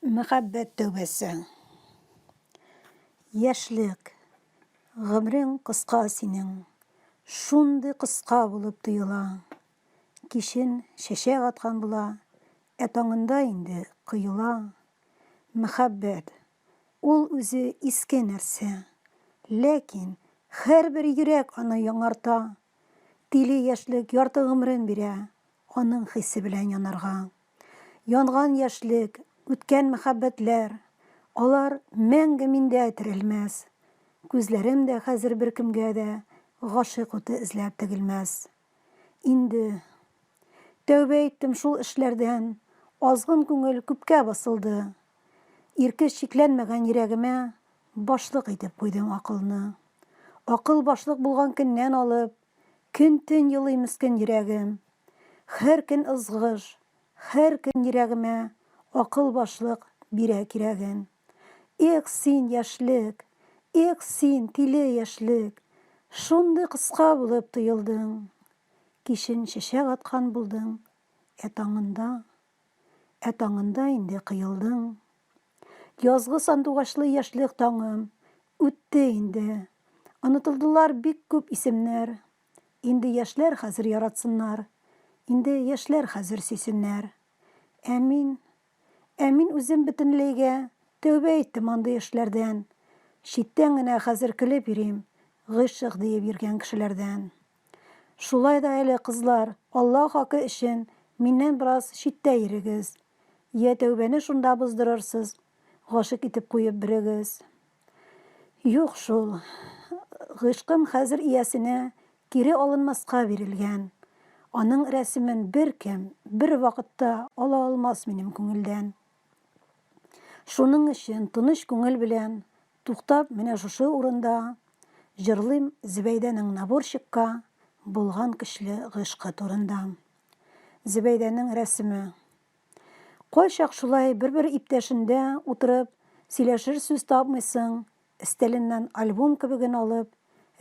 Мәхәббәт тәүбәсе. Яшьлек. Гомрең кыска синең. Шундый кыска булып тоела. Кичен чәчәк аткан була, ә таңында инде коела. Мәхәббәт. Ул үзе иске нәрсә. Ләкин һәрбер йөрәк аны яңарта, Тиле яшьлек ярты гомерен бирә Аның хисе белән янарга. Янган яшьлек, үткән мәхәббәтләр, Алар мәңге миндә терелмәс. Күзләрем дә хәзер беркемгә дә Гашыйк уты эзләп тегелмәс. Инде Тәүбә иттем шул эшләрдән, Азгын күңел күпкә басылды. Иркеш чикләнмәгән йөрәгемә Башлык итеп куйдың акылны. Акыл башлык булган көннән алып, Көн-төн елый мескен йөрәгем. Хәр көн ызгыш, хәр көн йөрәгемә Акыл башлык бирә кирәген. Эх, син, яшьлек! Эх, син, тиле яшьлек! Шундый кыска булып тоелдың. Кичен чәчәк аткан булдың, Ә таңында Ә таңында инде кыелдың. Язгы сандугачлы яшьлек таңым Үтте инде. Онытылдылар бик күп исемнәр. Инде яшьләр хәзер яратсыннар, Инде яшьләр хәзер сөйсеннәр. Ә мин, ә мин үзем бөтенләйгә Тәүбә иттем андый эшләрдән. Читтән генә хәзер көлеп йөрим Гыйшык диеп йөргән кешеләрдән. Шулай да әле, кызлар, Алла хакы өчен, миннән бераз читтә йөрегез. Йә тәүбәне шунда боздырырсыз, гашыйк итеп куеп берегез. Юк шул. Гыйшкым хәзер иясенә кире алынмаска бирелгән. Аның рәсемен беркем, бервакытта ала алмас минем күңелдән. Шуның өчен тыныч күңел белән туктап менә шушы урында җырлыйм Зөбәйдәнең наборщикка булган көчле гыйшкы турында. Зөбәйдәнең рәсеме. Кайчак шулай бер-бер иптәшендә утырып сөйләшер сүз тапмыйсың, Өстәленнән альбом кебеген алып,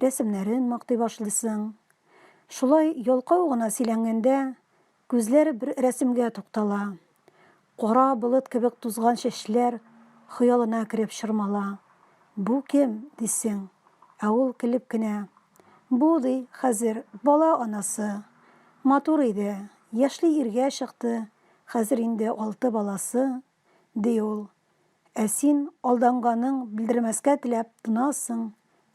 рәсемнәрен мактый башлыйсың. Шулай ялкау гына сөйләнгәндә, күзләре бер рәсемгә туктала. Кара болыт кебек тузган чәчләр хыялына кереп чормала. Бу кем, дисең. Ә ул көлеп кенә. Бу, ди, хәзер бала анасы. Матур иде, яшьли иргә чыкты, хәзер инде алты баласы, ди ул. Ә син, алданганың белдермәскә теләп, тынасың,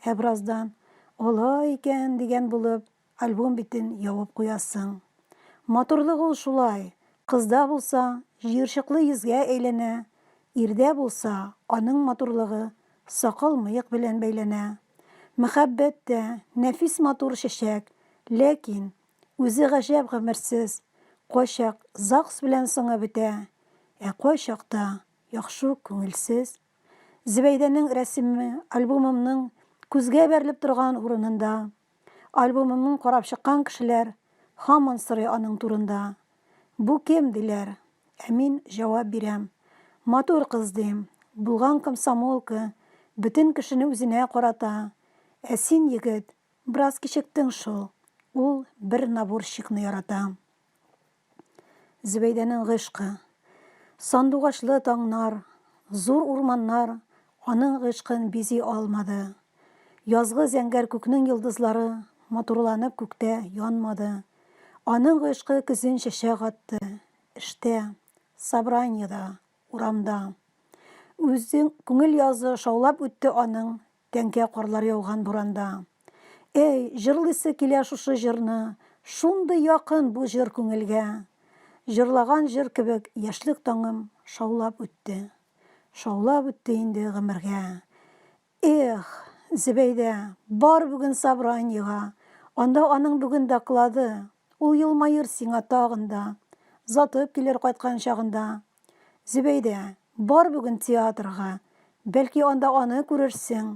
ә бераздан, Алай икән, дигән булып, альбом битен ябып куясың. Матурлык ул шулай, кызда булса, җыерчыклы йөзгә әйләнә, ирдә булса, аның матурлыгы сакал-мыек белән бәйләнә. Мәхәббәт тә, нәфис-матур чәчәк, ләкин Үзе гаҗәп гомерсез, кайчак ЗАГС белән соңы бетә, ә кайчак та яхшы ук күңелсез. Зөбәйдәнең рәсеме альбомымның күзгә бәрелеп торган урынында. Альбомымны карап чыккан кешеләр һаман сорый аның турында. Бу кем, диләр. Ә мин җавап бирәм. Матур кыз, дим. Булган комсомолка, бөтен кешене үзенә карата. Ә син, егет, Бераз кичектең шул. Ул бер наборщикны ярата. Зөбәйдәнең гыйшкы. Сандугачлы таңнар, зур урманнар аның гыйшкын бизи алмады. Язгы зәңгәр күкнең йолдызлары матурланып күктә янмады. Аның гыйшкы көзен чәчәк атты. Эштә, собраниеда, урамда. Үзен күңел язы шаулап үтте аның Тәңкә карлар яуган буранда. Әй, җырлыйсы килә шушы җырны, Шундый якын бу җыр күңелгә. Җырлаган җыр кебек яшьлек таңым Шаулап үтте, шаулап үтте инде гомергә. Эх, Зөбәйдә, бар бүген собраниега, Анда аның бүген доклады, Ул елмаер сиңа тагын да, Затып килер кайткан чагында. Зөбәйдә, бар бүген театрга, бәлки анда аны күрерсең,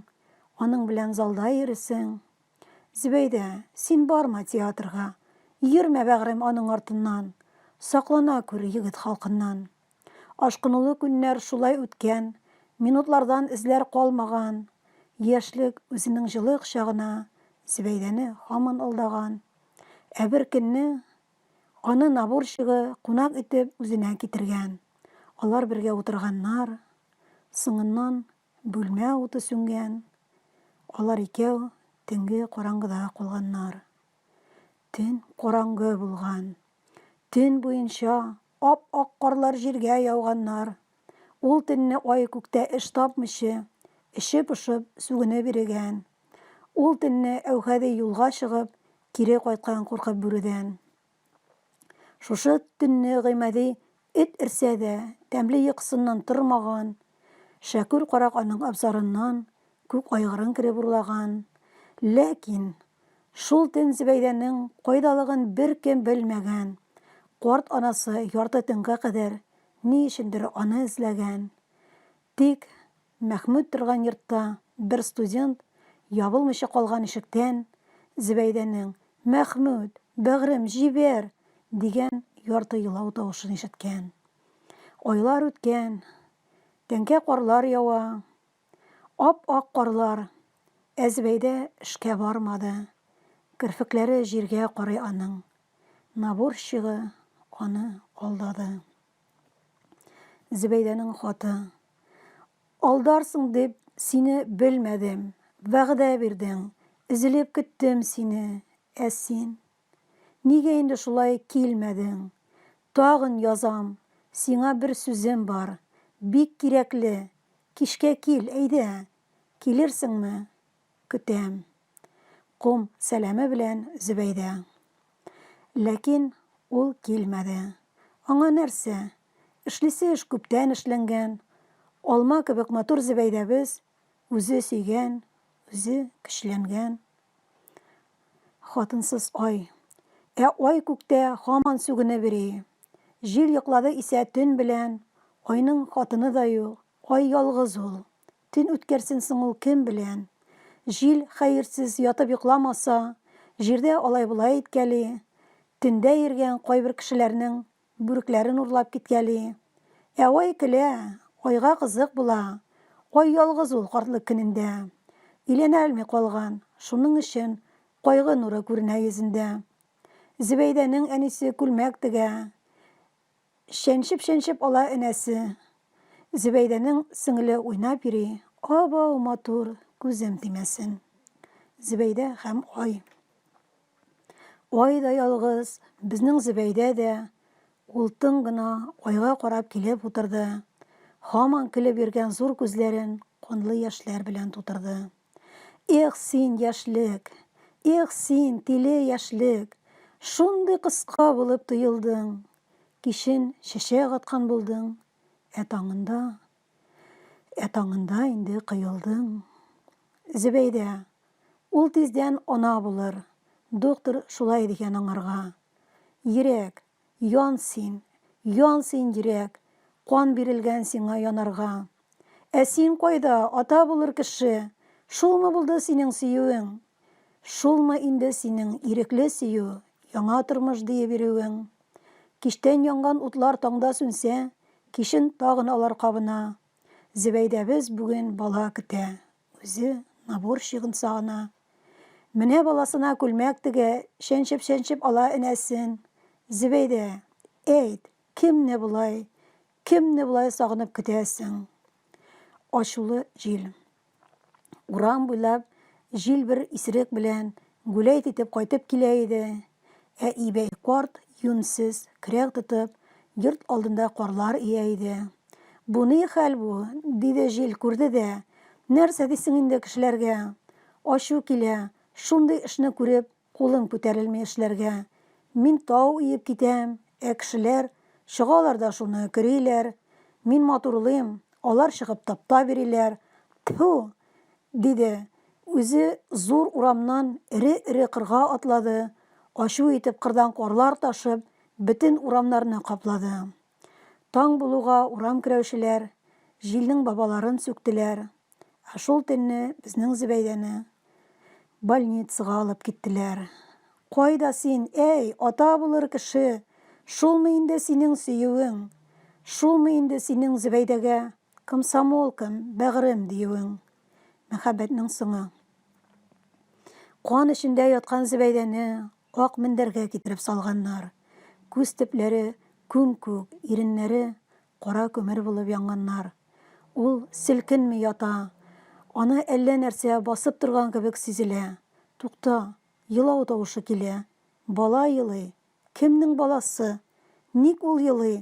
аның белән залда йөрисең. Зөбәйдә, син барма театрга, йөрмә, бәгърем, аның артыннан, саклана күр егет халкыннан. Ашкынулы көннәр шулай үткән, минутлардан эзләр калмаган. Яшьлек үзенең җылы кочагына Зөбәйдәне һаман алдаган. Ә бер көнне Аны наборщигы кунак итеп үзенә китергән. Алар бергә утырганнар. Соңыннан бүлмә уты сүнгән. Алар икәү төнге караңгыда калганнар. Төн караңгы булган. Төн буенча ап-ак карлар җиргә яуганнар. Ул төнне ай күктә эш тапмыйчы, эче пошып, сүгенеп йөрегән. Ул төнне Әүхәди юлга чыгып, Кире кайткан куркып бүредән. Шушы төнне Гыймади эт эрсә дә, тәмле йокысыннан тормаган. Шәкүр карак аның абзарыннан күк айгырын кереп урлаган. Ләкин шул төн Зөбәйдәнең кайдалыгын беркем белмәгән. Карт анасы ярты төнгә кадәр ни өчендер аны эзләгән. Тик Мәхмүт торган йортта бер студент ябылмыйча калган ишектән Зөбәйдәнең, Мәхмүт, бәгърем, җибәр! дигән ярты елау тавышын ишеткән. Айлар үткән, тәңкә карлар ява, ап-ак карлар, ә Зөбәйдә эшкә бармады. Керфекләре җиргә карый аның. Наборщигы аны алдады. Зөбәйдәнең хаты. Алдарсың дип, сине белмәдем, вәгъдә бирдең, өзелеп көттем сине, ә син. Нигә инде шулай килмәдең? Тагын язам, сиңа бер сүзем бар, бик кирәкле, кичкә кил, әйдә, килерсеңме? Көтәм. Ком сәламе белән Зөбәйдә. Ләкин ул килмәде. Аңа нәрсә? Эшлисе эш күптән эшләнгән. Алма кебек матур Зөбәйдәбез, үзе сөйгән, үзе көчләнгән хатынсыз ай. Ә ай күктә һаман сүгенеп йөри. Җил йоклады исә төн белән, айның хатыны да юк, ай ялгыз ул. Төн үткәрсен соң ул кем белән? Җил, хәерсез, ятып йокламаса, җирдә алай-болай иткәли, төндә йөргән кайбер кешеләрнең бүрекләрен урлап киткәли. Ә ай көлә, айга кызык була. Ай ялгыз ул картлык көнендә. Өйләнәлми калган, шуның өчен кайгы нуры күренә йөзендә. Зөбәйдәнең әнисе күлмәк тегә. Чәнчеп-чәнчеп ала энәсе. Зөбәйдәнең сеңеле уйнап йөри, Абау матур, күзем тимәсен. Зөбәйдә һәм ай. Ай да ялгыз, безнең Зөбәйдә дә. Ул тын гына айга карап килеп утырды. Һаман көлеп йөргән зур күзләрен канлы яшьләр белән тутырды. Эх, син, яшьлек! Эх, син, тиле яшьлек! Шундый кыска булып тоелдың. Кичен чәчәк аткан булдың, Ә таңында, ә таңында инде коелдың. Зөбәйдә. Ул тиздән ана булыр. Доктор шулай дигән аңарга. Йөрәк. Ян син, ян син, йөрәк, Кан бирелгән сиңа янарга. Ә син кайда, ата булыр кеше? Шулмы булды синең сөюең? Шулмы инде синең ирекле сөю, Яңа тормыш диеп йөрүең? Кичтән янган утлар таңда сүнсә, Кичен тагын алар кабына. Зөбәйдәбез бүген бала көтә. Үзе наборщигын сагына. Менә баласына күлмәк тегә, чәнчеп-чәнчеп ала энәсен. Зөбәйдә, әйт, кемне болай, кемне болай сагынып көтәсең? Ачулы җил. Урам буйлап җил бер исерек белән Гүләйт итеп кайтып килә иде. Ә Ибәй карт, юньсез, кряк тотып, йорт алдында карлар өя иде. Бу ни хәл бу? диде җил, күрде дә. Нәрсә дисең инде кешеләргә? Ачу килә, шундый эшне күреп, кулым күтәрелми эшләргә. Мин тау өеп китәм, ә кешеләр чыгалар да шуны көриләр. Мин матурлыйм, алар чыгып таптап йөриләр. Тфү! диде. Үзе зур урамнан эре-эре кырга атлады, ачу итеп кырдан карлар ташып, бөтен урамнарны каплады. Таң булуга урам көрәүчеләр җилнең бабаларын сүктеләр, ә шул төнне безнең Зөбәйдәне больницага алып киттеләр. Кайда син, әй, ата булыр кеше! Шулмы инде синең сөюең? Шулмы инде синең Зөбәйдәгә Комсомолкам, бәгърем, диюең, мәхәббәтнең соңы. Кан эчендә яткан Зөбәйдәне ак мендәргә китереп салганнар. Күз төпләре күм-күк, иреннәре кара күмер булып янганнар. Ул селкенми ята. Аны әллә нәрсә басып торган кебек сизелә. Тукта, елау тавышы килә. Бала елый. Кемнең баласы? Ник ул елый?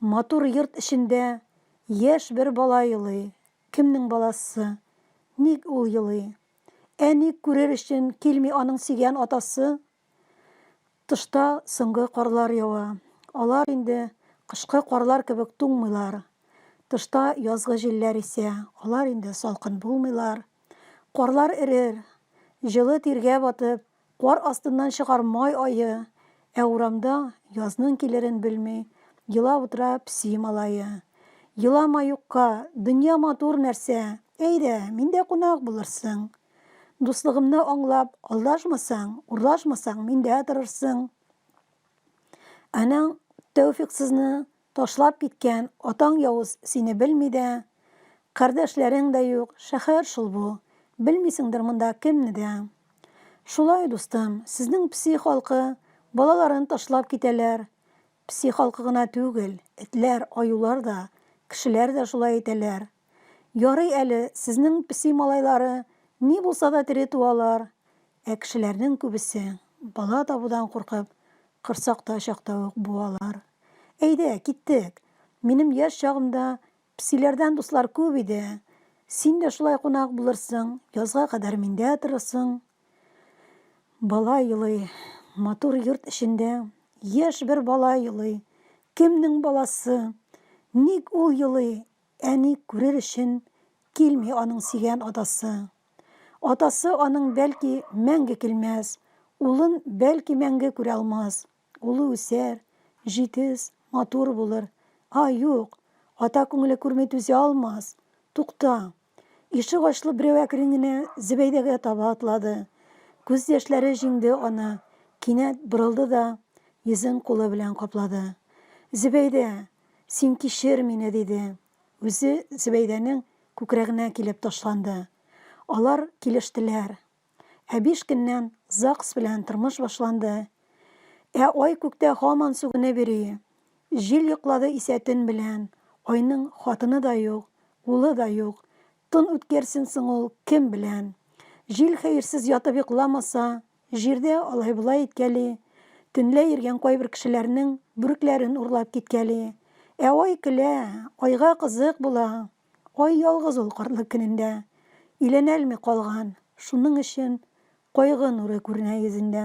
Матур йорт эчендә яшь бер бала елый. Кемнең баласы? Ник ул елый? Әни күрер өчен килми аның сөйгән атасы? Тышта соңгы карлар ява. Алар инде кышкы карлар кебек туңмыйлар. Тышта язгы җилләр исә. Алар инде салкын булмыйлар. Карлар эрер. Җылы тиргә батып, Кар астыннан чыгар май ае, Ә урамда, язның килерен белми, Елап утыра песи малае. Елама юкка, дөнья матур нәрсә, Әйдә, миндә кунак булырсың. Дуслыгымны аңлап, алдашмасаң, Урлашмасаң, миндә торырсың. Анаң Тәүфиксызны Ташлап киткән атаң явыз сине белми дә, кардәшләрең дә юк, шәһәр шул бу, белмисеңдер монда кемне дә. Шулай, дустым, сезнең пси халкы балаларын ташлап китәләр, пси халкы гына түгел, этләр, аюлар да, кешеләр дә шулай итәләр. Ярый әле, сезнең песи малайлары ни булса да тере туалар, ә кешеләрнең күбесе, бала табудан куркып, корсакта чакта ук буалар. Әйдә, киттек! Минем яшь чагымда песиләрдән дуслар күп иде. Син дә шулай кунак булырсың, язга кадәр миндә торырсың. Бала елый. Матур йорт эчендә яшь бер бала елый. Кемнең баласы? Ник ул елый? Әни күрер өчен килми аның сөйгән атасы. Атасы аның бәлки мәңге килмәс, улын бәлки мәңге күрә алмас. Улы үсәр, җитез, матур булыр. А, юк, ата күңеле күрми түзә алмас. Тукта! Ишек ачлы берәү әкрен генә Зөбәйдәгә таба атлады. Күз яшьләре җиңде аны, кинәт борылды да, йөзен кулы белән каплады. Зөбәйдә, Син кичер мине, диде. Үзе Зөбәйдәнең күкрәгенә килеп ташланды. Алар килештеләр. Ә биш көннән ЗАГС белән тормыш башланды. Ә ай күктә һаман сүгенеп йөри. Җил йоклады исә төн белән. Айның хатыны да юк, улы да юк. Тын үткәрсен соң ул кем белән? Җил хәерсез ятып йокламаса, Җирдә алай-болай иткәли, төнлә йөргән кайбер кешеләрнең бүрекләрен урлап киткәли. Ә Ай көлә, Айга кызык була. Ай ялгыз ул картлык көнендә. Өйләнәлми калган, шуның өчен кайгы нуры күренә йөзендә.